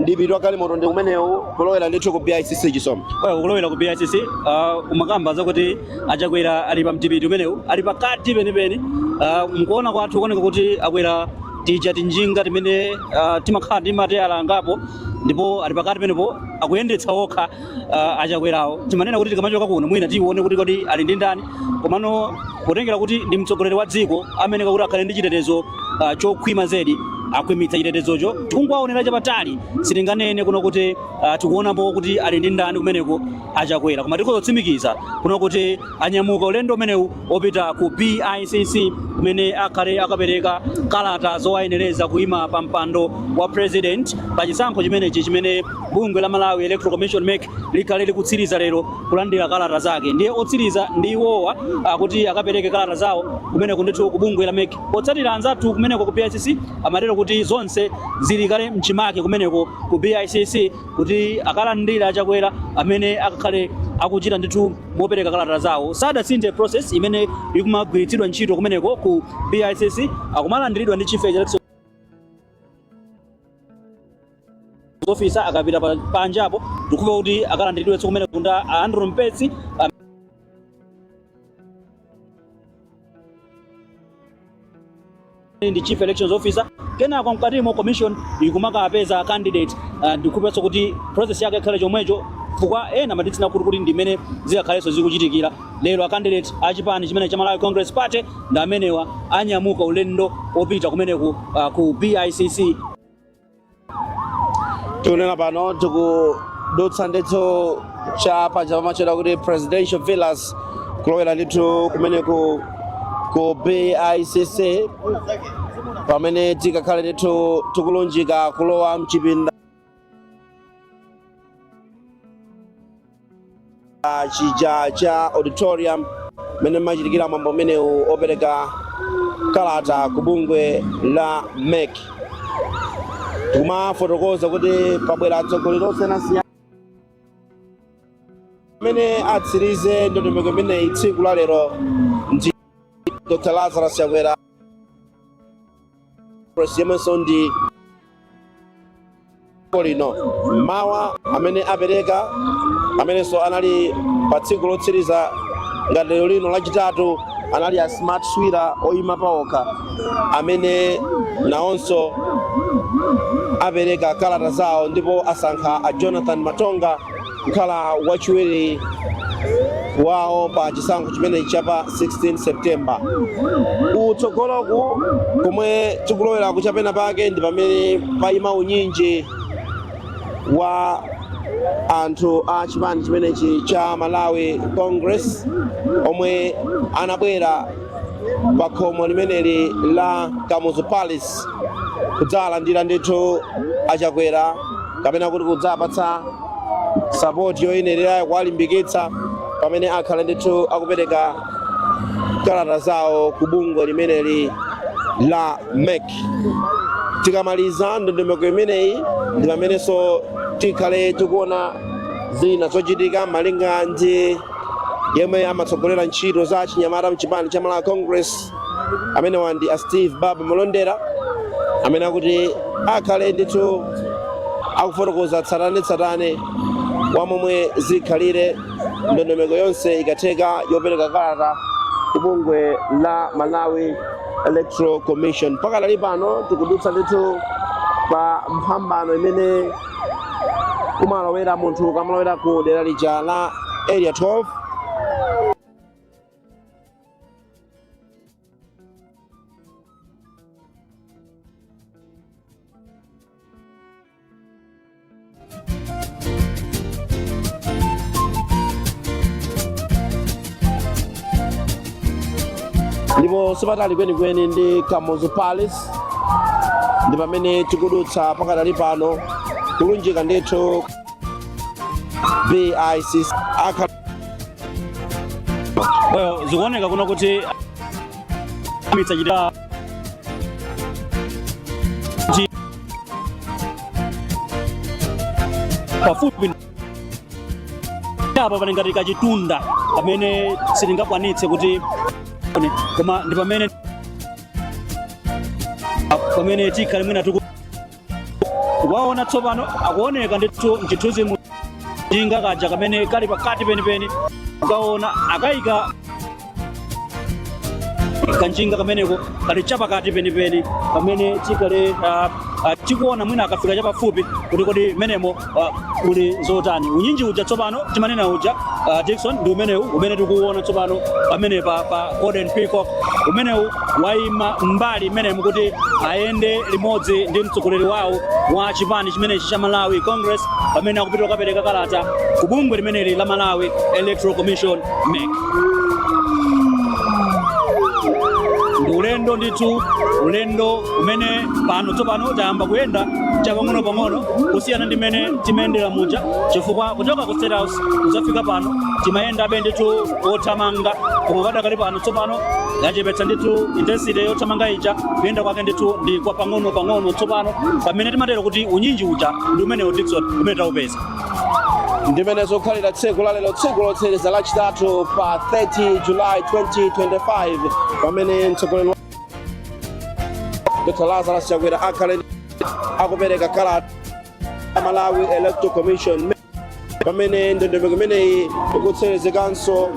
mdipiti wa galimoto ndi umenewu kulowera ndithu ku bicc chisomo Well, kulowera ku BICC uh, umakamba zakuti achakwera ali pa mdipiti umenewu ali pakati penipeni, uh, mkuona kwathu kuoneka kuti akwera tija tinjinga timene uh, timakhala ndi mateyala angapo ndipo ali pakati pomwepo akuyendetsa okha uh, achakwerawo timanena kuti tikamachoka kuno mwina tione kuti kodi ali ndi ndani komano potengera kuti ndi mtsogoleri wa dziko amene akuti akhale ndi chitetezo uh, chokhwima zedi akhwimitsa chitetezocho tikungwaonera chapatali sitinganene kuno kuti uh, tikuonapo kuti ali ndi ndani kumeneko achakwera koma tikhoza kutsimikiza kuno kuti anyamuka ulendo umenewu opita ku BICC kumene akhale akapereka kalata zowayenereza kuima pa mpando wa president pa chisankho chimenechi chimene bungwe la Malawi Electoral Commission MEC likhale likutsiriza lero kulandira kalata zake. Ndiye otsiriza ndi iwowa kuti akapereke kalata zawo kumeneko ndithu ku bungwe la MEC. Potsatira anzathu kumeneko ku BICC amatero kuti zonse zili kale mchimake kumeneko ku BICC kuti akalandire achakwera amene akakhale akuchita ndithu mopereka kalata zawo sadasinthe process imene ikumagwiritsidwa ntchito kumeneko ku BICC akumalandiridwa ndi chief election officer akapita panjapo ndikumva kuti akalandiridwenso kumeneko ndi a Andrew Mpesi ndi chief elections officer kenako mkatimo commission ikumakawapeza a candidate uh, ndikumvanso kuti process yake ikhale chomwecho chifukwa ena amatitsina khutu kuti ndimene zikakhalenso zikuchitikira lero a candidate a chipani chimene cha Malawi Congress Party ndi amenewa anyamuka ulendo opita kumeneko uh, ku BICC tikunena pano tikudutsa ndithu cha paja pamatchedwa kuti presidential villas kulowera ndithu kumeneko ku bicc pamene tikakhale ndithu tikulunjika kulowa mchipinda Ah, chija cha auditorium mmene mukuchitikira mwambo umenewu opereka kalata ku bungwe la mec tikumafotokoza kuti pabwera atsogoleri osiyanasiyana amene atsirize ndondomeko imeneyi tsiku la lero ndi dr lazarus chakwera Press yemwenso ndi wa dziko lino mmawa amene apereka amenenso anali pa tsiku lotsiriza ngati lero lino lachitatu anali a smart swira oyima paokha amene nawonso apereka kalata zawo ndipo asankha a jonathan matonga kukhala wachiwiri wawo pa chisankho chimenechi cha pa 16 september kutsogoloku komwe tikulowera kuchipenapake ndi pamene paima unyinji wa anthu a chipani chimenechi cha malawi congress omwe anabwera pa khomo limeneli la kamuzu palace kudzalandira ndithu achakwera kapena kuti kudzapatsa sapoti yoyenererayo kuwalimbikitsa pamene akhale ndithu akupereka kalata zawo ku bungwe limeneli la mec tikamaliza ndondomeko imeneyi ndi pamenenso tikhale tikuona zina zochitika malinga ndi yemwe amatsogolera ntchito za achinyamata mchipani cha malawi congress amenewa ndi a steve baba malondera amene akuti akhale ndithu akufotokoza tsatane tsatane wa momwe zikhalire ndondomeko yonse ikatheka yopereka kalata ku bungwe la malawi electoral commission pakadali pano tikudutsa ndithu pa mphambano imene kumalowera munthu ukamalowera ku dera lija la area 12 ndipo sipatali kwenikweni ndi kamuzu palace ndi pamene tikudutsa pakadali pano kulunjika ndithu bicc Eh, zikuoneka kuno kuti amitsa chita chi- pafupi apa pali ngati kachitunda pamene sitingakwanitse kuti koma ndi pamene pamene tikhale mwina tiku waona tsopano akuoneka ndithu mchithunzi mu njinga kaja kamene kali pakati penipeni ukaona akayika kanjinga kameneko kali chapakati penipeni pamene tikhale ah, ah, tikuona mwina akafika chapafupi kuti kodi menemo uh, muli zotani unyinji uja tsopano timanena uja uh, Dickson ndi umenewu umene tikuuona tsopano pamenepa, pa Golden Peacock umenewu waima mbali imenemo kuti ayende limodzi ndi mtsogoleri wawo wa chipani chimenechi cha Malawi Congress pamene akupita kukapereka kalata ku bungwe limeneli la Malawi Electoral Commission MEC ndi ulendo ndithu ulendo umene pano tsopano tayamba kuyenda chapang'onopang'ono kusiyana ndi mmene timayendera muja chifukwa kuchoka ku state house kudzafika pano timayendabe ndithu wothamanga koma padakali pano tsopano yachepetsa ndithu intensity yothamanga ija kuyenda kwake ndithu ndi kwa pang'onopang'ono tsopano pamene timatero kuti unyinji uja ndi umenewo Dickson umene taupeza ndimene zokhalira tsiku lalero tsiku lotsiriza lachitatu pa 30 julayi 2025 pamene mtsogoleri wa- Dr. Lazarus Chakwera akhale akupereka kalata ku Malawi Electoral Commission pamene ndondomeko imeneyi ikutsirizikanso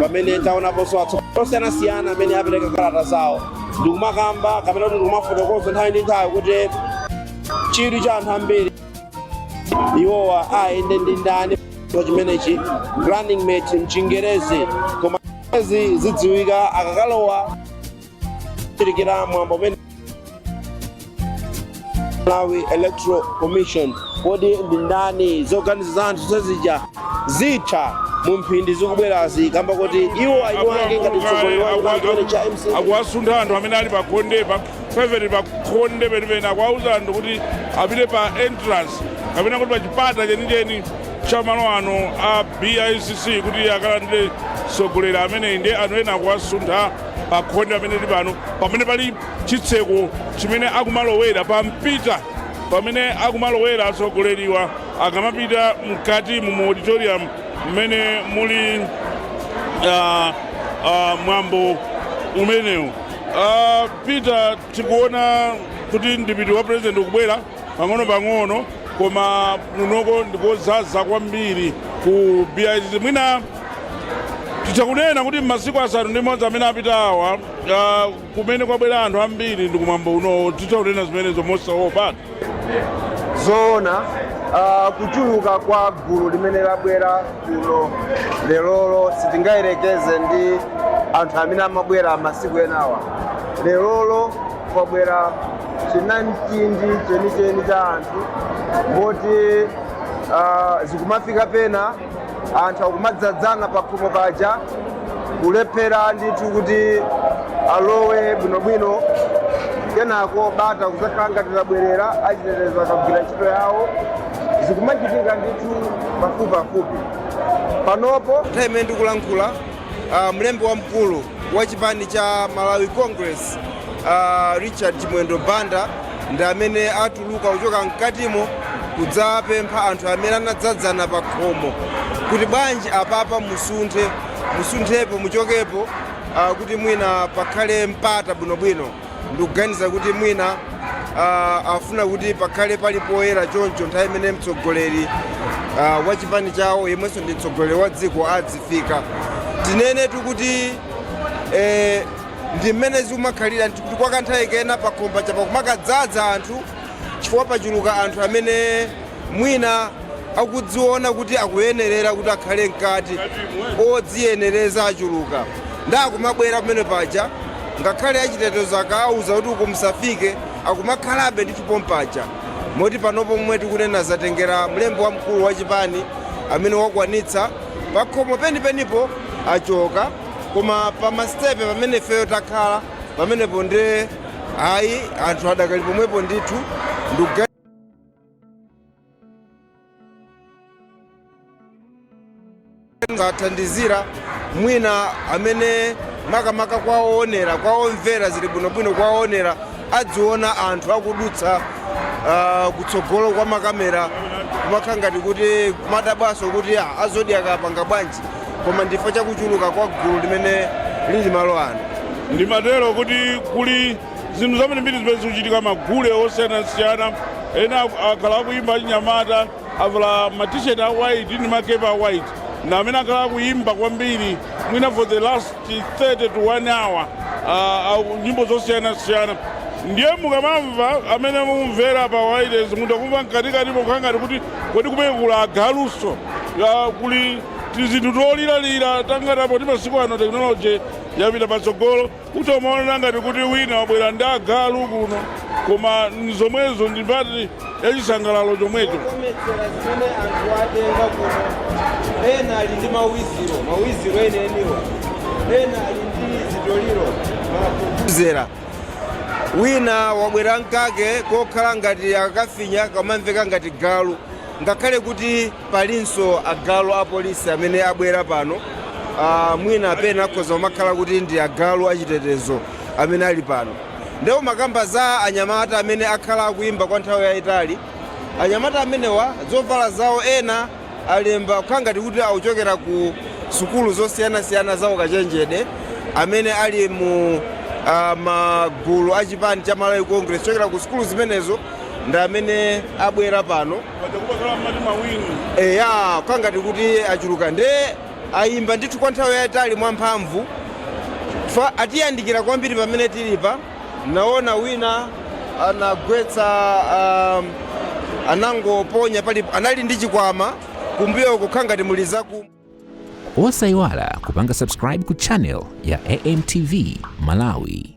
pamene taonaponso atsogoleri osiyanasiyana amene apereka kalata zawo ndikumakamba kapena kuti ndikumafotokoza nthawi ndi nthawi kuti chidwi cha anthu ambiri iwowa ayende ndi ndani chimenechi running mate mchingerezi koma izi zidziwika akakalowa kochitikira mwambo umenewu malawi electoral commission kodi ndi ndani zoganiza za anthu zazija zitha mu mphindi zikubwerazi kamba koti iwo ayiwange ngati mtsogoleri wa chipani chimene cha mcp akuwasuntha anthu amene ali pakhonde pa peveti pakhonde penipeni akuwauza anthu kuti apite pa entrance kapena kuti pa chipata chenicheni cha malo ano a BICC kuti akalandire mtsogoleri ameneyi ndi anthu ena akuwasuntha pa khonde amene ali pano pamene pali chitseko chimene akumalowera pa mpita pamene akumalowera atsogoleriwa akamapita mkati mu mu auditorium mmene muli ah, ah, mwambo umenewu Ah, peter tikuona kuti mdipiti wa president ukubwera pang'onopang'ono koma kunoko ndikodzaza kwambiri ku BICC mwina titha kunena kuti m'masiku asanu ndi modzi amene apitawa uh, kumene kwabwera anthu ambiri ndi kumwambo unowo titha kunena zimenezo mosaopa zoona uh, kuchuluka kwa gulu limene labwera kuno lerolo sitingayerekeze ndi anthu amene amabwera masiku enawa lerolo kwabwera chinamtindi chenicheni cha anthu moti ah, zikumafika pena anthu akumadzadzana pakhomo paja kulephera ndithu kuti alowe bwinobwino kenako bata kuzakhala ngati labwerera achitetezo akagwira ntchito yawo zikumachitika ndithu pafupipafupi panopo nthawi imene ndikulankhula Uh, mlembi wamkulu wa chipani cha Malawi Congress uh, Richard Chimwendo Banda ndi amene atuluka kuchoka mkatimo kudzapempha anthu amene anadzadzana pa khomo kuti bwanji apapa musunthe musunthepo muchokepo uh, kuti mwina pakhale mpata bwinobwino Ndikuganiza kuti mwina uh, afuna kuti pakhale pali poyera choncho nthawi imene mtsogoleri uh, wa chipani chawo yemwenso ndi mtsogoleri wa dziko adzifika tinenetu kuti eh, ndi mmene zikumakhalira kuti kwa kanthawi kena pakhomo apa kumakadzadza anthu chifukwa pachuluka anthu amene mwina akudziona kuti akuyenerera kuti akhale mkati odziyenereza achuluka ndiye akumabwera pamene paja ngakhale achitetezo akawauza kuti uku musafike akumakhalabe ndithu pompaja moti panopo momwe tikunena zatengera mlembi wamkulu wa chipani amene wakwanitsa pakhomo penipenipo achoka koma pa masitepe pamene ifeyo takhala pamenepo nde ayi anthu adakali pomwepo ndithu ndikuga ngathandizira mwina amene makamaka kwa owonera kwa omvera zili bwinobwino kwa owonera adziona anthu akudutsa ah, kutsogolo kwa makamera kumakhala ngati kuti kumadabwanso kuti ah, a Zodiak apanga bwanji koma ndi chifukwa cha kuchuluka kwa gulu limene lili malo ano ndimatero kuti kuli zinthu zambirimbiri zimene zikuchitika magule osiyanasiyana ena aku- akhala akuyimba achinyamata avala matisheti a white ndi makepa a white ndi amene akhala akuyimba kwambiri mwina for the last 30 to 1 hour ah, ah, nyimbo zosiyanasiyana ndiye mukamamva amene mukumvera pa wailesi mutha kumva mkatikati mokhala ngati kuti kodi kumene kuli agalunso Ah, kuli tizinthu toliralira tangatangati poti masiku ano tekinoloji yapita patsogolo Kuti umaona ngati kuti wina wabwera ndi agalu kuno, koma nzomwezo ndi mbali ya chisangalalo chomwecho. Zokometsera zimene anthu atenga kuno, ena ali ndi mawiziro, mawiziro enieniwa, ena ali ndi zitoliro, mavuvuzela. Wina wabwera ndi kake kokhala ngati akakafinya kamamveka ngati galu, ngakhale kuti Palinso agalu a police amene abwera pano uh, mwina pena akhoza kumakhala kuti ndi agalu achitetezo amene ali pano ndipo mumakamba za anyamata amene akhala akuimba kwa nthawi yayitali anyamata amenewa zovala zawo ena alemba kukhala ngati kuti akuchokera ku sukulu zosiyanasiyana za ukachenjede amene ali mu uh, magulu a chipani cha malawi congress kuchokera ku sukulu zimenezo ndi amene abwera pano paja kumakhala mmati mawini eya kukhala ngati kuti achuluka nde ayimba ndithu kwa nthawi yayitali mwamphamvu atiyandikira kwambiri pamene tilipa naona wina anagwetsa um, anangoponya palipo anali ndi chikwama kumbuyo kukhala ngati muli zaku osayiwala kupanga subscribe ku channel ya amtv malawi